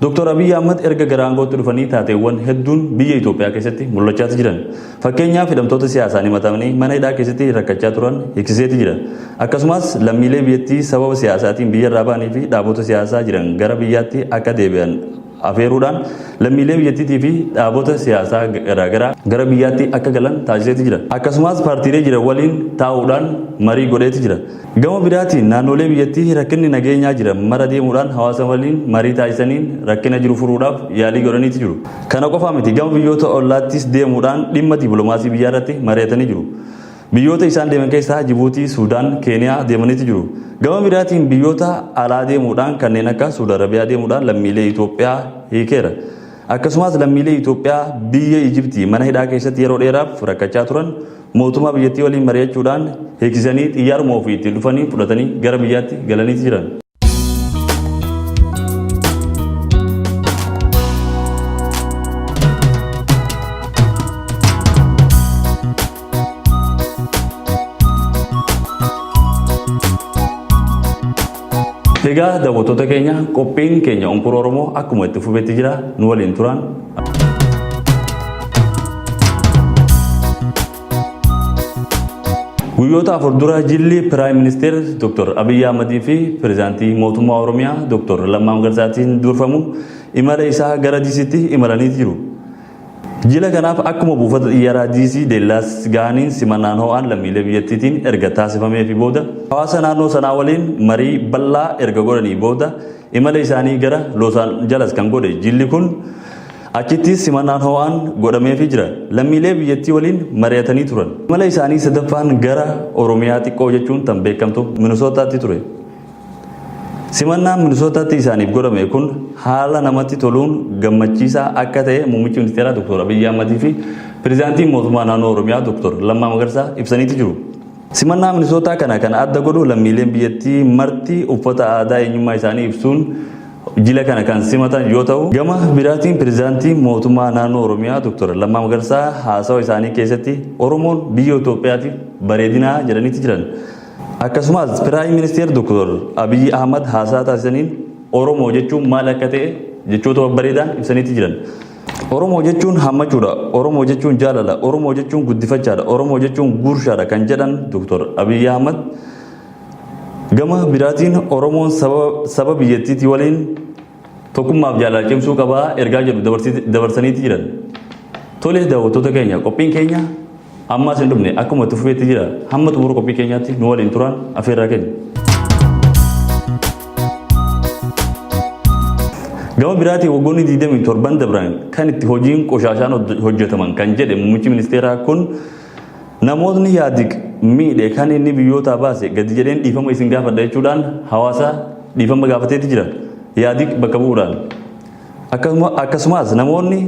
Doktor Abiy Ahmad erga gara aangootti dhufanii taateewwan hedduun biyya Itoophiyaa keessatti mul'achaati jiran. Fakkeenyaaf hidhamtoota siyaasaan himatamanii mana hidhaa keessatti rakkachaa turan hiksiseeti jira. Akkasumas lammiilee biyyattii sababa siyaasaatiin biyyarraa ba'anii fi dhaabota siyaasaa jiran gara biyyaatti akka deebi'an afeeruudhaan lammiilee biyyattiitii fi dhaabota siyaasaa garaagaraa gara biyyaatti akka galan taasiseeti jira. Akkasumas paartiilee jiran waliin taa'uudhaan marii godheeti jira. Gama biraatiin naannoolee biyyattii rakkinni nageenyaa jiran mara deemuudhaan hawaasa waliin marii taasisaniin rakkina jiru furuudhaaf yaalii godhaniiti jiru. Kana qofaa miti gama biyyoota ollaattis deemuudhaan dhimma dippiloomaasii biyyaa irratti mari'atanii jiru. Biyyoota isaan deeman keessaa Jibuutii, Suudaan, Keeniyaa deemaniiti jiru. Gama biraatiin biyyoota alaa deemuudhaan kanneen akka Suud Arabiyaa deemuudhaan lammiilee Itoophiyaa hiikeera. Akkasumaas lammiilee Itoophiyaa biyya Ijibtii mana hidhaa keessatti yeroo dheeraaf rakkachaa turan Mootummaa biyyattii waliin mari'achuudhaan hiiksisanii xiyyaaruma ofii ittiin dhufaniin fudhatanii gara biyyaatti galanii jiran. Egaa daawwattoota keenya qophiin keenya Onkura Oromoo akkuma itti fufetti jira nu waliin turaan. Guyyoota afur dura jilli Piraayim Ministeer Dr. Abiyyi Ahmadii fi Pireezidaantii Mootummaa Oromiyaa Dr. Lammaa Magarsaatiin durfamu imala isaa gara Disiitti imalanii jiru. Jila kanaaf akkuma buufata xiyyaaraa DC Deellaas gahaniin simannaan ho'aan lammiilee biyyattiitiin erga taasifameefi booda hawaasa naannoo sanaa waliin marii bal'aa erga godhanii booda imala isaanii gara Los Angeles kan godhe jilli kun achittis simannaan ho'aan godhameefi jira. Lammiilee biyyattii waliin mari'atanii turan. Imala isaanii sadaffaan gara Oromiyaa xiqqoo jechuun tan beekamtu Minisootaatti ture. Simannaan Minisootaatti isaaniif godhame kun haala namatti toluun gammachiisaa akka ta'e muummichi ministeeraa Dr. Abiyyi Ahmadii fi pirezidaantiin mootummaa naannoo Oromiyaa Dr. Lammaa Magarsaa ibsaniiti jiru. Simannaa Minisootaa kana kan adda godhu lammiileen biyyattii marti uffata aadaa eenyummaa isaanii ibsuun jila kana kan simatan yoo ta'u gama biraatiin pirezidaantiin mootummaa naannoo Oromiyaa Dr. Lammaa Magarsaa haasawa isaanii keessatti Oromoon biyya Itoophiyaatiif bareedinaa jedhaniiti jiran. Akkasumas Piraayim Ministeer Dooktar Abiyyi Ahmad haasaa taasisaniin Oromoo jechuun maal akka ta'e jechoota babbareedaan ibsaniiti jiran. Oromoo jechuun hammachuudha, Oromoo jechuun jaalala, Oromoo jechuun guddifachaadha, Oromoo jechuun guurshaadha kan jedhan Dooktar Abiyyi Ahmad gama biraatiin Oromoon saba biyyattiitii waliin Tokkummaaf jaalala cimsuu qaba ergaa jedhu dabarsi- dabarsaniiti jiran. Tole daawwattoota keenya qophiin keenya ammaas hin dhumne akkuma itti fufeetti jira hamma xumura qophii keenyaatti nu waliin turaan afeerraa keenya. Gama biraatiin waggoonni 27 dabran kan itti hojiin qoshaashaan hojjetaman kan jedhe muummichi ministeeraa kun Namootni Ihaadig miidhe kan inni biyyootaa baase gadi jedheen dhiifama isin gaafadha jechuudhaan hawaasa dhiifama gaafateeti jira. Ihaadig bakka bu'uudhaan. Akkasuma, akkasumaas namoonni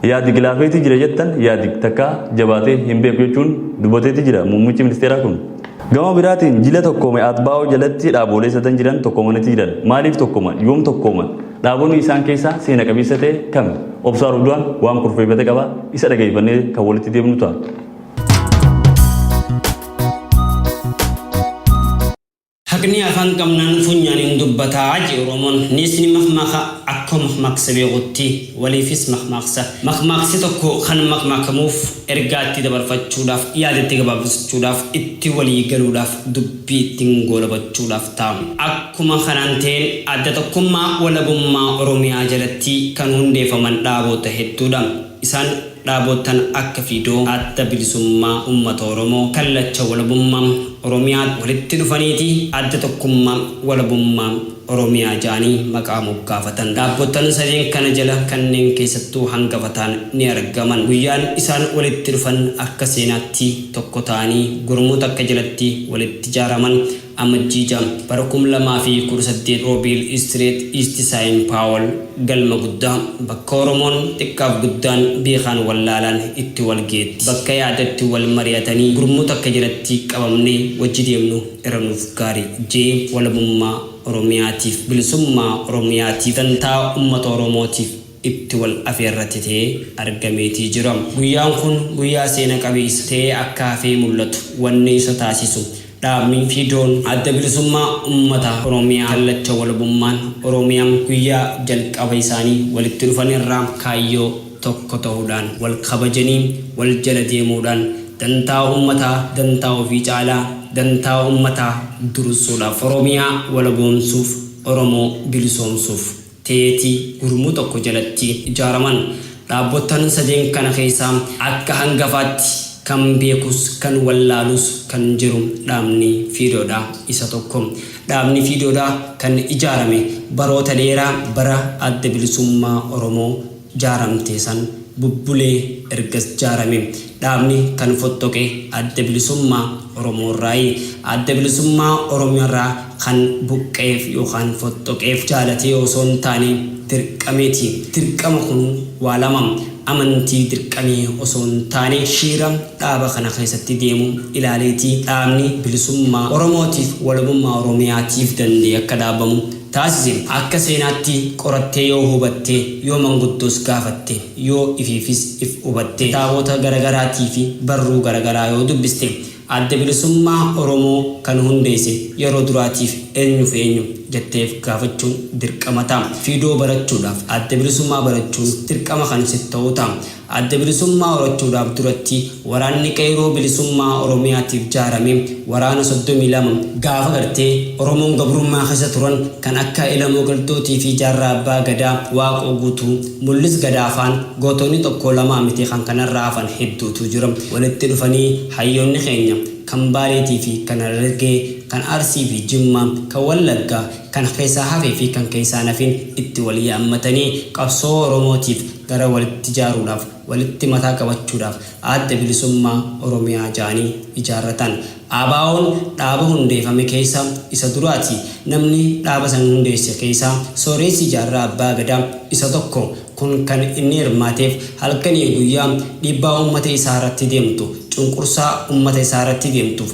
Ihaadig laafeeti jira jettan Ihaadig takkaa jabaatee hin beeku jechuun dubbateeti jira muummichi ministeeraa kun. Gama biraatiin jila tokkoome Atbaa'oo jalatti dhaaboolee sadan jiran tokkoomaniiti jiran. Maaliif tokkooman? Yoom tokkooman? Dhaabonni isaan keessaa seena qabeessa ta'e kami? Obsaa Rubduwaan waan kurfeeffate qaba, isa dhageeffannee kan walitti deemnu ta'a. Haqni afaan qabnaan funyaaniin dubbataa je Oromoon. Neesni makmaaka akkoo makmaaksa beekutti waliifis makmaaksa. Makmaaksi tokko kan makmaakamuuf ergaa itti dabarfachuudhaaf, yaada itti gabaabsachuudhaaf, itti walii galuudhaaf dubbatama. biittin goolabachuudhaaf ta'a. Akkuma kanaan ta'een Adda Tokkummaa Walabummaa Oromiyaa jalatti kan hundeefaman dhaaboota hedduu dha. Isaan dhaaboottan akka Fiidoo, Adda Bilisummaa Ummata Oromoo, Kallacha Walabummaa Oromiyaa walitti dhufaniiti Adda Tokkummaa Walabummaa. Oromiyaa ja'anii maqaa moggaafatan. Dhaabbottan sadeen kana jala kanneen keessattuu hangafa ta'an ni argaman. Guyyaan isaan walitti dhufan akka seenaatti tokko ta'anii gurmuu takka jalatti walitti jaaraman Amajjii 6, bara 2018 Robil Street, East Sain Paul, Galma Guddaa, bakka Oromoon xiqqaaf guddaan, beekaan wallaalaan itti walgeetti, bakka yaada itti wal mari'atanii gurmuu takka jalatti qabamnee wajji deemnu. irra nuuf gaari J walabummaa oromiyaatiif bilisummaa oromiyaatiif dantaa ummata oromootiif itti wal afeerrate ta'ee argameetii jira guyyaan kun guyyaa seena qabeessa ta'ee akka hafee mul'atu wanni isa taasisu dhaabni FIDOn adda bilisummaa ummata oromiyaa kallacha walabummaan oromiyaa guyyaa jalqaba isaanii walitti dhufan irraa kaayyoo tokko ta'uudhaan, wal kabajanii wal jala deemuudhaan dantaa uummataa dantaa ofii caalaa dantaa uummataa dursuudha. Oromiyaa walaboomsuuf, Oromoo bilisoomsuuf teeti gurmuu tokko jalatti ijaaraman. Dhaabbottan sadeen kana keessaa akka hangafaatti kan beekus kan wallaalus kan jiru dhaabni Fiidoodha. Isa tokko. Dhaabni Fiidoodha kan ijaarame baroota dheeraa bara Adda Bilisummaa Oromoo jaaramte san bubbulee ergas jaarame. Dhaabni kan fottoqe Adda Bilisummaa Oromoorraayi. Adda Bilisummaa Oromiyarraa kan buqqa'eef yookaan fottoqeef jaalatee osoo hin taane dirqameeti. Dirqama kun waa lama. Amantii dirqamee osoo hin taane shiira dhaaba kana keessatti deemu ilaaleeti. Dhaabni bilisummaa Oromootiif, walabummaa Oromiyaatiif danda'ee akka dhaabamu taasise akka seenaatti qorattee yoo hubatte, yoo manguddoos gaafatte, yoo ifiifis if hubatte, kitaabota garagaraatii fi barruu garagaraa yoo dubbiste, Adda Bilisummaa Oromoo kan hundeesse yeroo duraatiif eenyu fi eenyu? jettee if gaafachuun dirqama ta'a. Fidoo barachuudhaaf Adda Bilisummaa barachuun dirqama kan sitti ta'u ta'a. Adda Bilisummaa horachuudhaaf duratti waraanni qeyroo bilisummaa Oromiyaatiif jaarame waraana 32 gaafa gartee Oromoon gabrummaa keessa turan kan akka Elemoo Qilxuutii fi Jaarraa Abbaa Gadaa, Waaqoo Guutuu, Mullis Gadaa faan gootonni tokkoo lamaa miti kan kanarra hafan hedduutu jira. Walitti dhufanii hayyoonni keenya kan Baaleetii fi kan Harargee, kan Arsii fi Jimmaa, kan Wallaggaa, kan keessaa hafee fi kan keessaa hin hafin itti wal yaammatanii qabsoo Oromootiif gara walitti jaaruudhaaf, walitti mataa qabachuudhaaf Adda Bilisummaa Oromiyaa ja'anii ijaarratan. ABOn dhaaba hundeefame keessa isa duraati. Namni dhaaba san hundeesse keessa Sooreessi Jaarraa Abbaa Gadaa isa tokko. Kun kan inni hirmaateef halkanii guyyaa dhiibbaa ummata isaa irratti deemtu, cunqursaa ummata isaa irratti deemtuuf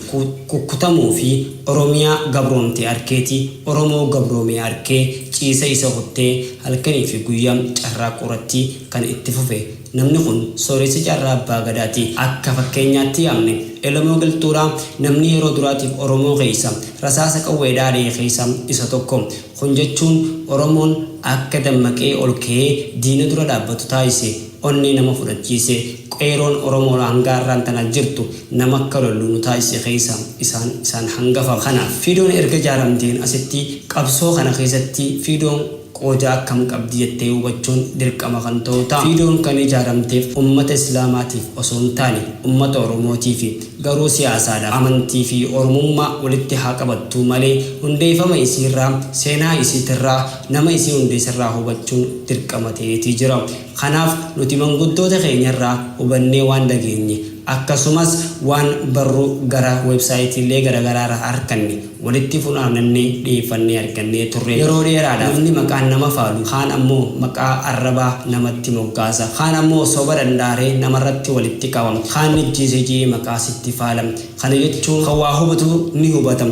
kukkutamuu fi Oromiyaa gabroomte arkeeti, Oromoo gabroomee arkee ciisa isa kuttee, Halkanii fi guyyaa carraaqquu irratti kan itti fufe namni kun sooressa Jaarraa Abbaa Gadaati. Akka fakkeenyaatti yaamne. Elemoo Qilxuudha. Namni yeroo duraatiif Oromoo keessa rasaasa qawweedhaa ari'e keessa isa tokko. Kun jechuun Oromoon akka dammaqee ol ka'ee diina dura dhaabbatu taasise. Onnee nama fudhachiise Qeeroon Oromoo hanga har'aan tana jirtu nama akka lollu nu taasise keessa isaan isaan hangafa. Kanaaf Fiidoon erga ijaaramteen asitti qabsoo kana keessatti Fiidoon qooda akkam qabdi jettee hubachuun dirqama kan ta'u ta'a. Fiidoon kan ijaaramteef ummata Islaamaatiif osoo hin taane ummata Oromootiifi. Garuu siyaasaadhaaf. Amantii fi Oromummaa walitti haa qabattuu malee hundeeffama isiirraa, seenaa isiitirraa, nama isii hundeesserraa hubachuun dirqama ta'eetii jira. Kanaaf nuti manguddoota keenyarraa hubannee waan dhageenye akkasumas waan barruu gara websaayitiilee garagaraarraa arkanne walitti funaanannee dhiyeeffannee argannee turre. Yeroo dheeraadhaaf namni maqaan nama faalu kaan ammoo maqaa arrabaa namatti moggaasa. Kaan ammoo soba dhandhaaree namarratti walitti qaba. Kaan nijjiise je'ee maqaa sitti faala. Kana jechuun kan waa hubatu ni hubata.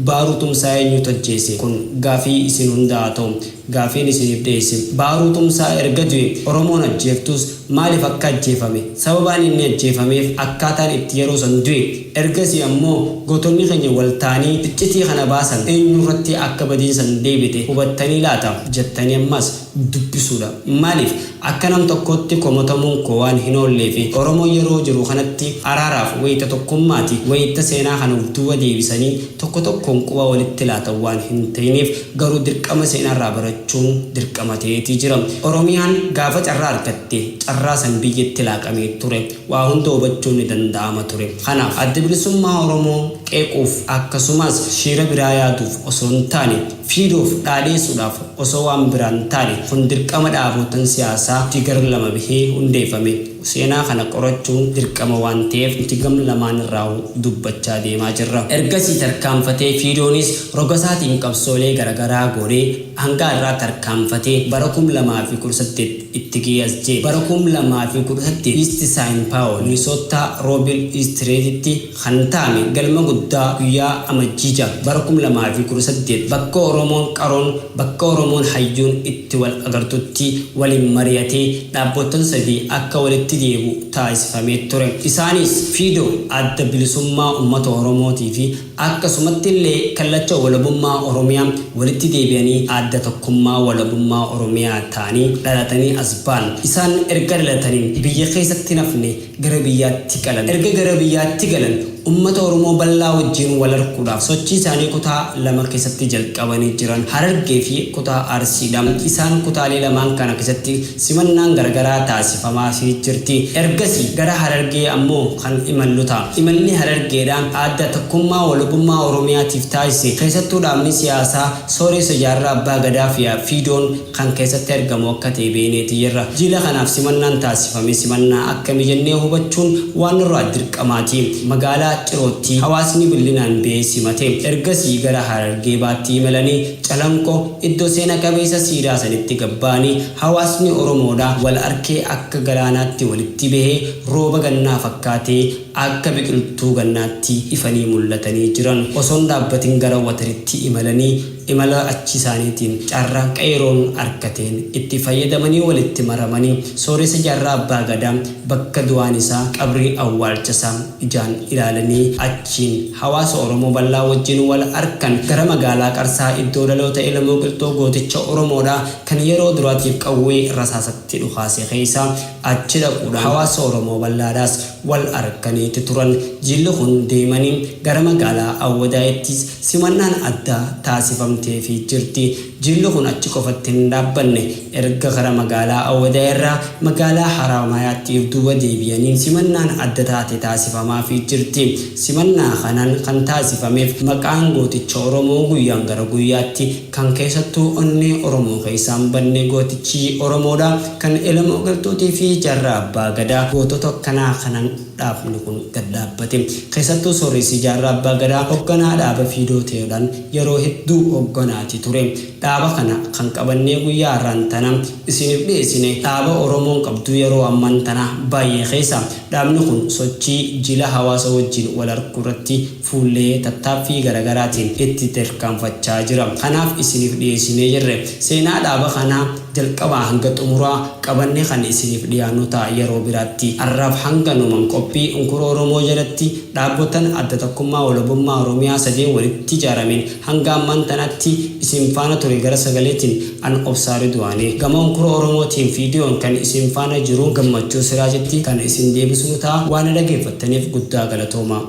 Baaruu Tumsaa eenyutu ajjeese? Kun gaafii isin hundaa haa ta'u. Gaafiin isiniif dhiyeesse, Baaruu Tumsaa erga du'e Oromoon ajjeeftus maaliif akka ajjeefame, sababaan inni ajjeefameef, akkaataan itti yeroo san du'e, ergasii ammoo gootonni keenya wal ta'anii iccitii kana baasan eenyurratti akka badiin san deebite hubattanii laata? jettanii ammas dubbisuudha. Maaliif? Akka nam tokkootti komotamuun koo waan hin oolleefi. Oromoon yeroo jiru kanatti araaraaf wayita tokkummaati, wayita seenaa kana of duuba deebisanii tokko tokkoon quba walitti laatan waan hin ta'ineef. Garuu dirqama seenaarraa barachuun dirqama ta'eeti jira. Oromiyaan gaafa carraa argatte carraa san biyyatti laaqamee ture. Waa hunda hubachuun ni danda'ama ture. Kanaaf Adda Bilisummaa Oromoo qeequuf akkasumaas shiira biraa yaaduuf osoo hin taane, Fiduuf, dhaadheessuudhaaf, osoo waan biraa hin taane kun dirqama dhaaboottan siyaasaa nuti gar lama bahee hundeeffame seenaa kana qorachuun dirqama waan ta'eef nuti gam lamaan irraahuu dubbachaa deemaa jirra. Ergasii tarkaanfatee Fiidoonis rogasaatiin qabsoolee garagaraa goonee hangaa irraa tarkaanfatee bara 2018 itti gahee as ga'e. Bara 2018 East Sain Paul, Minnesota Robil East Reed tti, kan taame galma guddaa guyyaa Amajjii 6 bara 2018 bakka Oromoon qaroon, bakka Oromoon hayyuun itti wal agartutti waliin mari'atee dhaabboottan sadii akka walitti deebi'u taasifamee ture. Isaaniis, Fido, Adda Bilisummaa Ummata Oromootii fi akkasumatti illee Kallacha Walabummaa Oromiyaa walitti deebi'anii Adda Tokkummaa Walabummaa Oromiyaa ta'anii dhalatanii as ba'an. Isaan erga dhalatanii biyya keessatti hin hafne. gara biyyaatti galan. Erga gara biyyaatti galan ummata Oromoo bal'aa wajjiin wal arkuudhaaf sochii isaanii kutaa lama keessatti jalqabanii jiran Harargee fi kutaa Arsii dha. Isaan kutaalee lamaan kana keessatti simannaan garagaraa taasifamaafii jirti. Ergasii gara Harargee ammoo kan imallu ta'a. Imalli Harargeedhaan Adda Tokkummaa Walabummaa Oromiyaatiif taasise keessattuu dhaabni siyaasaa Sooreessa Jaarraa Abbaa Gadaa fi Fiidoon kan keessatti argamu akka ta'e beeyneeti jirra. Jiila kanaaf simannaan taasifame simannaa akkami jennee hubachuun waan nurraa dirqamaati. Magaalaa Cirootti hawaasni bil'inaan ba'ee simate. Ergasii gara Harargee Baatti imalanii Calanqo iddo seena qabeessa siidaa sanitti gad ba'anii hawaasni Oromoodha wal arkee akka galaanaatti walitti bahee rooba gannaa fakkaatee akka biqiltuu gannaatti ifanii mul'atanii jiran osoon dhaabbatin gara Wataritti imalanii Imala achii isaaniitiin carraa Qeeyroon arkateen itti fayyadamanii walitti maramanii sooressa jaarraa Abbaa Gadaa bakka du'aan isaa qabrii awwaalcha isaa ijaan ilaalanii achiin hawaasa Oromoo bal'aa wajjin wal arkan gara magaalaa Qarsaa iddoo dhaloota Elemoo Qilxuu gooticha Oromoodhaa kan yeroo duraatiif qawwee rasaasatti dhukaase keessaa achi dhaquudhaan hawaasa Oromoo bal'aadhaas wal arkaniiti turan. Jilli kun deemanii gara magaalaa Awwadaayittis Simannaan addaa taasifamteefii jirti. Jilli kun achi qofatti hin dhaabbanne. Erga kara magaalaa Awadaa irraa magaalaa Haraamaayaatti if duuba deebi'aniin simannaan adda taate taasifamaafii jirti. Simannaa kanaan kan taasifameef maqaan gooticha Oromoo guyyaan gara guyyaatti kan keessattuu onnee Oromoo keessaa hin badne gootichi Oromoodha. Kan Elemoo Qilxuutii fi Jaarraa Abbaa Gadaa gootota akkanaa kanan. dhaabni kun gad dhaabbate. Keessattuu Sooreessi Jaarraa Abbaa Gadaa hogganaa dhaaba Fiidoo Teyoodhaan yeroo hedduu hogganaati ture. Dhaaba kana kan qabannee guyyaa har'aan tana isiiniif dhiyeessine dhaaba Oromoon qabdu yeroo ammaan tana baay'ee keessa. Dhaabni kun sochii jila hawaasa wajjiin wal arkuurratti fuullee tattaaffii garagaraatiin itti terkaanfachaa jira. Kanaaf isiniif dhiyeessinee jirre. Seenaa dhaaba kanaa jalqabaa hanga xumuraa qabannee kan isiniif dhiyaannu ta'a yeroo biraatti. Arraaf hanganuman qophii Unkura Oromoo jalatti dhaabotan Adda Tokkummaa Walabummaa Oromiyaa sadeen walitti ijaarameen hanga ammaan tanaatti isin faana ture gara sagaleetiin an Obsaa Ridwaani. Gama Unkura Oromootiin viidiyoon kan isin faana jiru Gammachuu Siraajitti kan isin deebisnu ta'a. Waa na dhageeffattaniif guddaa galatoomaa.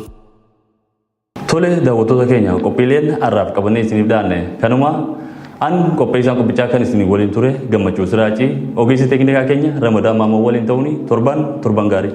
Tole daawwattoota keenya qophiileen har'aaf qabannee isiniif dhiyaanne kanuma an qopheessaan qophichaa kan isin waliin ture gammachuu siraacii ogeessi teeknikaa keenya ramadaa maamoo waliin ta'uun torban torban gaarii.